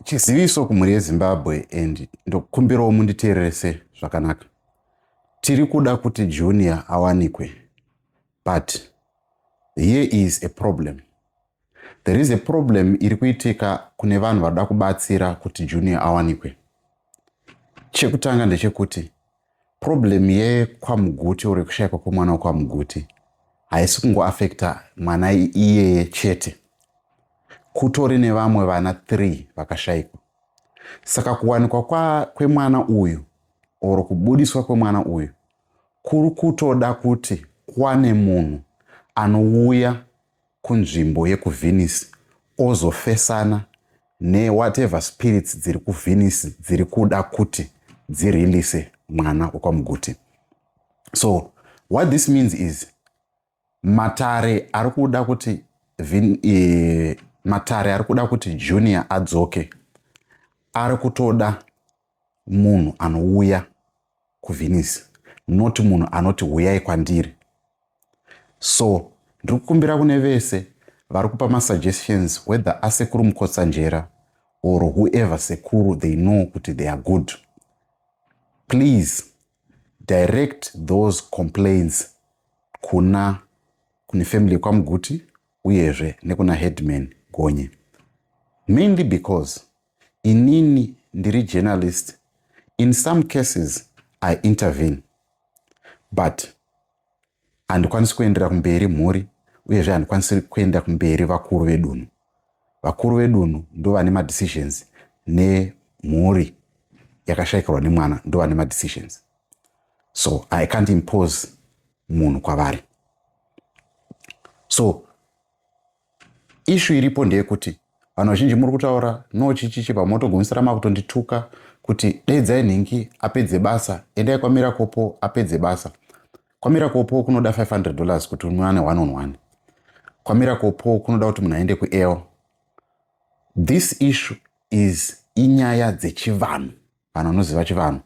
Chiziviso kumhuri yeZimbabwe and ndokumbirawo munditeererese zvakanaka. Tiri kuda kuti Junior awanikwe but here is a problem. There is a problem iri kuitika kune vanhu vada kubatsira kuti Junior awanikwe. Chekutanga ndechekuti Problem yekwaMuguti or yekushaikwa kwemwana wekwaMuguti haisi kungoafekta mwana iyeye chete. Kutori nevamwe vana three vakashaikwa. Saka kuwanikwa kwa, kwemwana uyu or kubudiswa kwemwana uyu kuri kutoda kuti kwane munhu anouya kunzvimbo yekuVenice ozofesana ne whatever spirits dziri kuVenice dziri kuda kuti dzirelease mwana wekwaMuguti. So what this means is matare ari kuda kuti vin, e, matare ari kuda kuti Junior adzoke ari kutoda munhu anouya kuvhenisi not munhu anoti huyai kwandiri so ndiri kukumbira kune vese vari kupa masuggestions whether asekuru mukotsanjera or whoever sekuru they know kuti they are good please direct those complaints kuna kune family kwamuguti uyezve nekuna headman gonye mainly because inini ndiri journalist in some cases i intervene but handikwanisi kuendera kumberi mhuri uyezve handikwanisi kuenda kumberi vakuru vedunhu vakuru vedunhu ndo vane madecisions nemhuri yakashaikirwa nemwana ndo vane madecisions so i can't impose munhu kwavari so Ishu iripo ndeyekuti vanhu vazhinji muri kutaura no chichichi pamwe motogumisira makutondituka kuti daidzai nhingi apedze basa endai kwamira kopo apedze basa kwamira kopo kunoda 500 dollars kuti unwane one on one kwamira kopo kunoda kuti munhu aende kuel this issue is inyaya dzechivanhu vanhu vanoziva chivanhu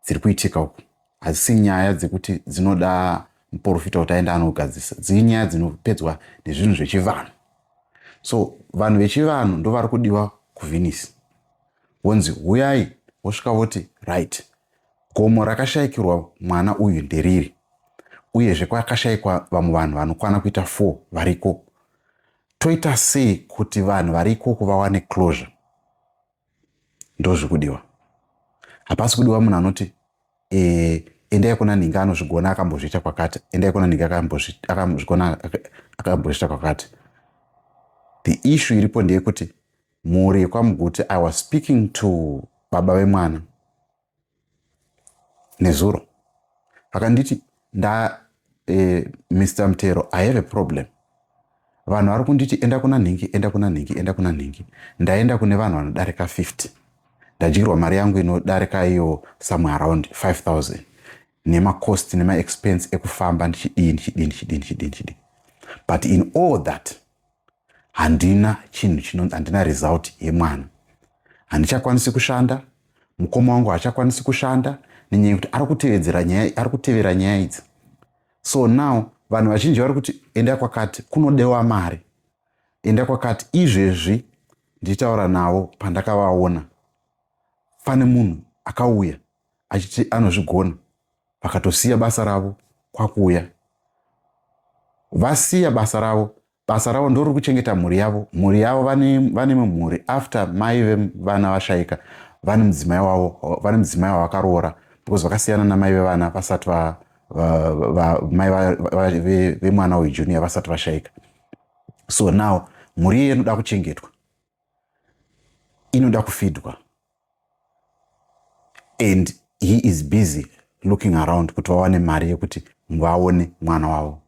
dziri kuitika uku hadzisi nyaya dzekuti dzinoda muporofita kuti aenda anogadzisa dziri nyaya dzinopedzwa nezvinhu zvechivanhu so vanhu vechivanhu ndo vari kudiwa kuvhenisi wonzi huyai wosvika voti right gomo rakashayikirwa mwana uyu nderiri uyezve kwakashayikwa vamwe vanhu vanokwana kuita four variko toita sei kuti vanhu vari ikoko vawane closure ndozvikudiwa hapasi kudiwa munhu anoti e, endai kuna ninge anozvigona akambozviita kwakati endai kuna ninge akambozvigona akambozviita kwakati the issue iripo ndeyekuti mhuri yekwamuguti i was speaking to baba vemwana nezuro vakanditi nda eh, mr mtero i have a problem vanhu vari kunditi enda kuna nhingi enda kuna nhingi enda kuna nhingi ndaenda kune vanhu vanodarika 50 ndadyirwa mari yangu inodarika iyo somewhere around 5000 nemacost nemaexpense ekufamba ndichidii ndichidii ndichidii ndichidii ndichidii but in all that handina chinhu chino handina result yemwana handichakwanisi kushanda mukoma wangu haachakwanisi kushanda nenyaya yekuti ari kutevedzera nyaya ari kutevera nyaya idzi so now vanhu vazhinji vari kuti enda kwakati kunodewa mari enda kwakati izvezvi ndichitaura navo pandakavaona pane munhu akauya achiti anozvigona vakatosiya basa ravo kwakuuya vasiya basa ravo basa ravo ndoriri kuchengeta mhuri yavo mhuri yavo vane mumhuri after mai vevana vashaika vane mudzimai wavo vane mudzimai wavakaroora because vakasiyana namai vevana vasati mai vemwana uyu junior vasati vashaika so now mhuri iye inoda kuchengetwa inoda kufidwa and he is busy looking around kuti vawane mari yekuti vaone mwana wavo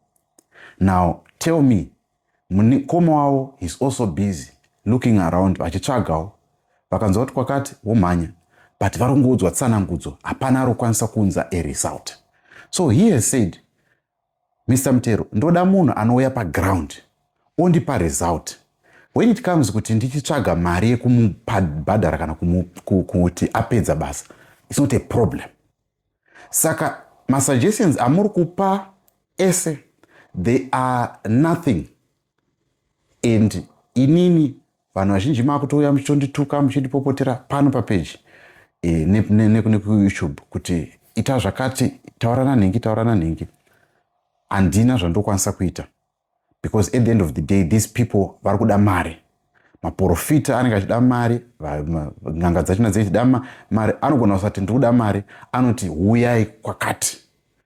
now tell me mukoma wavo he's also busy looking around vachitsvagawo vakanzwa kuti kwakati womhanya but vari kungoudzwa tsanangudzo hapana ari kukwanisa kuunza aresult so he has said Mr Mutero, ndoda munhu anouya paground ondipa result when it comes kuti ndichitsvaga mari yekumubhadhara kana kuti apedza basa its not a problem saka masuggestions amuri kupa ese they are nothing and inini vanhu vazhinji makutouya muchitondituka muchindipopotera pano papeji eh, nekuyoutube kuti ita zvakati taurana nhingi taurana nhingi handina zvandokwanisa kuita because at the end of the day these people vari kuda mari maporofita anenge achida mari n'anga dzachina dzichida mari anogona kusati ndikuda mari anoti huyai kwakati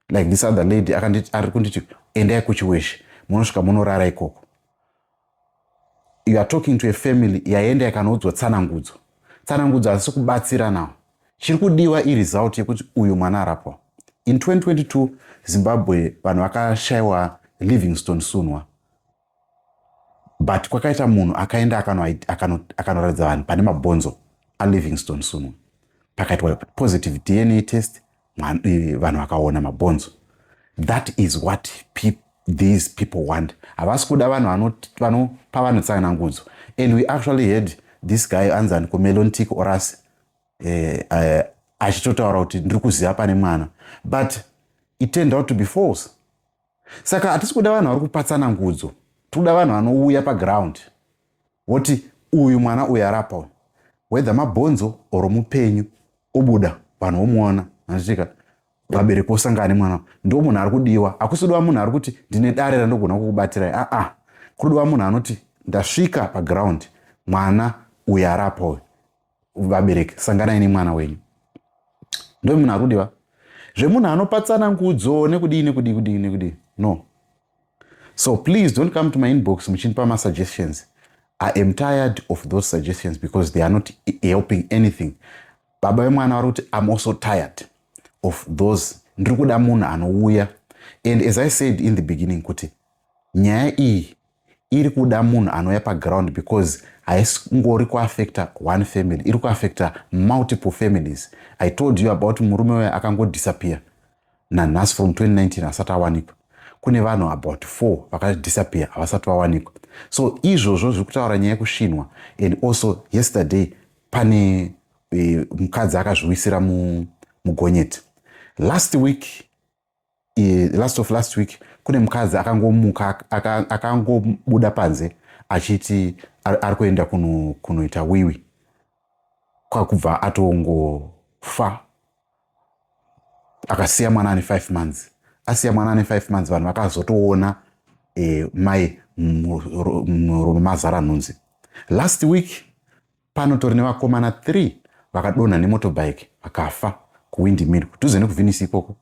like this other lady ari kunditi endai kuchiweshe munosvika munorara ikoko you are talking to a family yaenda yakanoudzwa tsanangudzo tsanangudzo hazisi kubatsira nawo chiri kudiwa iresult yekuti uyu mwana arapwa in 2022 zimbabwe vanhu vakashayiwa livingstone sunwa but kwakaita munhu akaenda akanoratidza vanhu pane mabhonzo alivingstone suno pakaitwa positive dna test vanhu vakaona mabhonzo that is what people, these people want havasi kuda vanhu vanopa vanhu tsanangudzo and we actually heard this guy anzi anikomelon tik oras eh, eh, achitotaura kuti ndiri kuziva pane mwana but it turned out to be false saka hatisi kuda vanhu vari kupatsana ngudzo tikuda vanhu vanouya paground voti uyu mwana uyu arapa uyu whether mabhonzo or mupenyu obuda vanhu vomuona anditika vabereki vosangane mwana ndo munhu ari kudiwa hakusidiwa munhu ari kuti ndine dare randogona kukubatirai aa ah, ah. kudiwa munhu anoti ndasvika paground mwana uyu arapa uyu vabereki sanganai nemwana wenyu ndovi munhu akudiva zvemunhu anopatsana ngudzo nekudii nekudii kudii nekudii no so please don't come to my inbox muchindipa masuggestions i am tired of those suggestions because they are not helping anything baba vemwana vari kuti im also tired of those ndiri kuda munhu anouya and as i said in the beginning kuti nyaya iyi iri kuda munhu anouya paground because haisingori kuaffecta one family iri kuaffecta multiple families i told you about murume uya akangodisappear nanhasi from 2019 asati awanikwa kune vanhu about four vakadisappear havasati vawanikwa so izvozvo zviri kutaura nyaya yekusvinwa and also yesterday pane e, mukadzi akazviwisira mugonyeti last week last of last week kune mukadzi akangomuka akangobuda aka panze achiti ari kuenda kunoita kuno wiwi kwakubva atongofa akasiya mwana ane five months asiya mwana ane five months vanhu vakazotoona e, mai murume mazara nhunzi last week panotori nevakomana 3 vakadonha nemotobike vakafa kuwindmil kudhuze nekuvinisi ikoko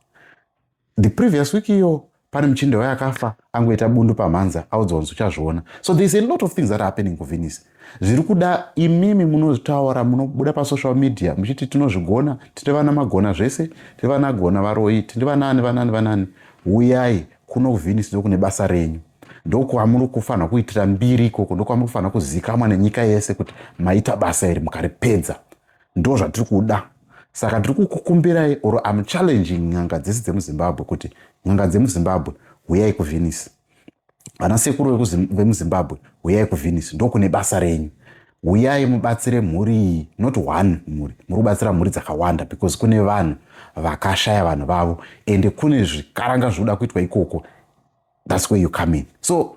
the previous week iyo pane muchinde waye akafa angoita bundu pamhanza audzwa kunzi uchazviona so there is a lot of things that are happening kuvinisi zviri kuda imimi munotaura munobuda pasocial media muchiti tinozvigona tiri vana magona zvese tiri vanagona varoyi tiri vanaani vanaani vanaani uyai kuno kuvhinisu ndokune basa renyu ndokwamuri kufanira kuitira mbiri ikoko ndokwamuri kufanira kuzikamwa nenyika yese kuti maita basa iri mukaripedza ndo zvatiri kuda saka tiri kukukumbirai or am challenging n'anga dzese dzemuzimbabwe kuti n'anga dzemuzimbabwe huyai kuvhinisu vana sekuru vemuzimbabwe huyai kuvhinisu ndokune basa renyu huyai mubatsire mhuri iyi not one mhuri muri kubatsira mhuri dzakawanda because kune vanhu vakashaya vanhu vavo ende kune zvikaranga zvinoda kuitwa ikoko thats where you come in so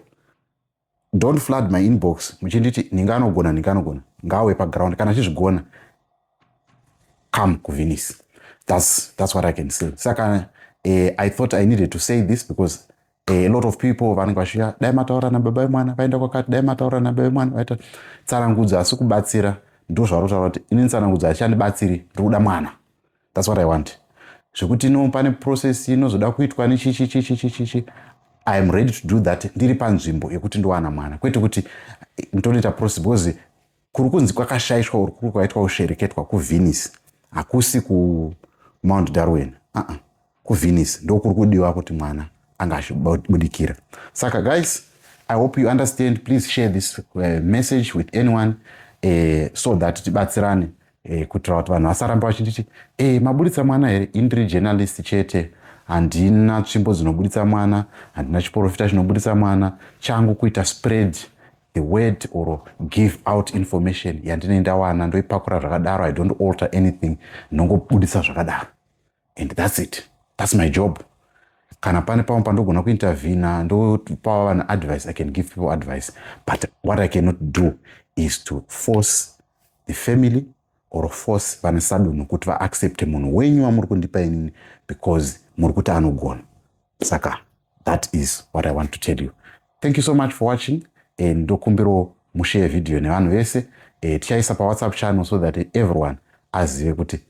don't flood my inbox muchinditi ninganogona ninganogona ngawe paground kana achizvigona come kuvinis that's, that's what i can say saka eh, i thought i needed to say this because eh, a lot of people vanenge vasvika dai mataura nababa vemwana vaenda kwakati dai mataura nababa vemwana vaita tsarangudzo asi kubatsira ndo zvarotaura kuti ini tsarangudzo hachandibatsiri ndiri kuda mwana that's what i want zvekuti no pane process inozoda kuitwa nechichichichichichi i am ready to do that ndiri panzvimbo yekuti ndowana mwana kwete kuti ndonoita process because kuri kunzi kwakashaishwa or kuri kwaitwa kushereketwa kuvenice hakusi kumount darwin aa uh -uh. kuvenice ndokuri kudiwa kuti mwana anga achibudikira saka guys i hope you understand please share this uh, message with anyone uh, so that tibatsirane uh, kuitira kuti vanhu vasaramba vachititi e eh, maburitsa mwana here indiri journalist chete handina tsvimbo dzinoburitsa mwana handina chiporofita chinoburitsa mwana changu kuita spread the word or give out information yandinei ndawana ndoipakura zvakadaro i don't alter anything ndongobudisa zvakadaro and thats it thats my job kana pane pamwe pandogona kuintervina ndopawa vanhu advice i can give people advice but what i cannot do is to force the family or force vane sadunhu kuti vaaccepte munhu wenyu wamuri kundipa inini because muri kuti anogona saka That is what I want to tell you. Thank you so much for watching and ndokumbirawo mushare video nevanhu vese eh, tichaisa pawhatsapp channel so that everyone azive kuti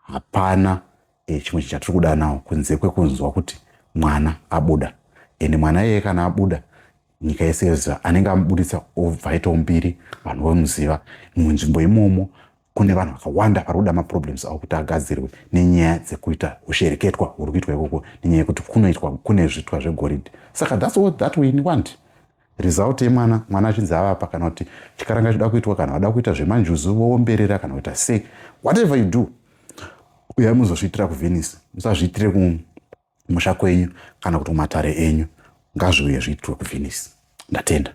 hapana eh, chimwe chinhu chatiri kuda nawo kunze kwekunzwa kuti mwana abuda ende mwana iyeye kana abuda nyika yese yoziva anenge amubuditsa obva aitawo mbiri vanhu vomuziva munzvimbo imomo kune vanhu vakawanda vari kuda maproblems avo kuti agadzirwe nenyaya dzekuita ushereketwa huri kuitwa ikoko nenyaya yekuti kunoitwa kune zvitwa zvegoridhe saka thats what that we want result yemwana mwana achinzi avapa kana kuti chikaranga chida kuitwa kana vada kuita zvemanjuzu voomberera kana kuita sei whatever you do uyai muzozviitira kuvenice musazviitire kumusha kwenyu kana kuti kumatare enyu ngazviuye zviitwe kuvenice ndatenda